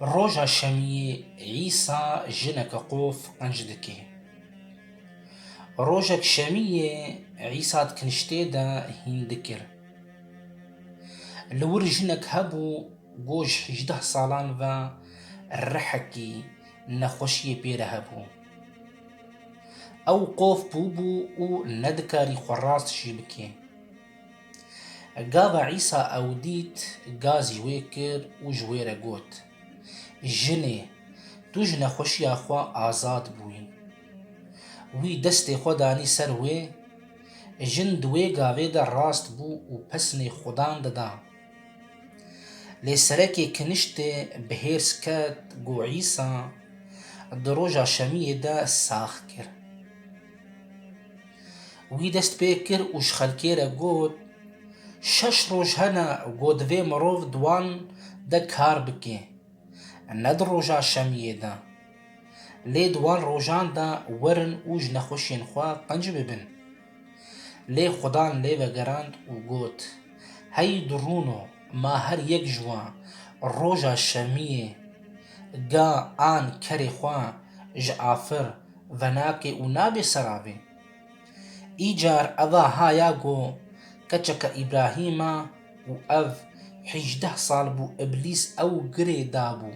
Roja şemiyê Îsa jineke qof qenc dike. Rojek şemiyê Îsa di kiniştê de hîn dikir. Li wir jinek hebû ku ji hîjdeh salan ve rihekî nexweşiyê pê re hebû. Ew qof bûbû û nedikarî xwe rast jî bike. Gava Îsa ew dît, ga zî wê kir û ji wê re got, Jinê, tu ji nexweşiya xwe azad bûyî. Wî destê xwe danî ser wê, jin di wê gavê de rast bû û pesnê Xudan dida. Lê serekê kiniştê bi hêrs ket ku Îsa di roja şemiyê de sax kir. Wî dest pê kir û ji xelkê re got, Şeş roj hene ku divê mirov di wan de kar bike, ne di roja şemiyê de. Lê di wan rojan de werin û ji nexweşiyên xwe qenc bibin. Lê Xudan lê vegerand û got, Hey du rûno, ma her yek ji wan roja şemiyê ga an kerê xwe ji afir, venakê û nabê seravê. Îcar eva ha ya go keçeke Îbrahîm a û ev hîjdeh sal bû Îblîs ew girê dabû.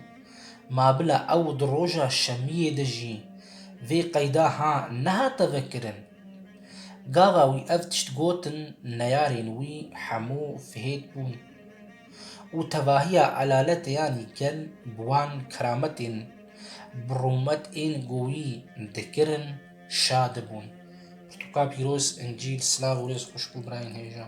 Ma bila ew di roja şemiyê de jî vê qeyda ha nehate vekirin. Gava wî ev tişt gotin neyarên wî hemû fihêt bûn. û tevahiya elaletê yan gel bi wan kerametên bi rûmet ên goyî dikirin şa dibûn. Pirtûka pîroz, Încîl, silav û rêz xweş bo birayên hêja.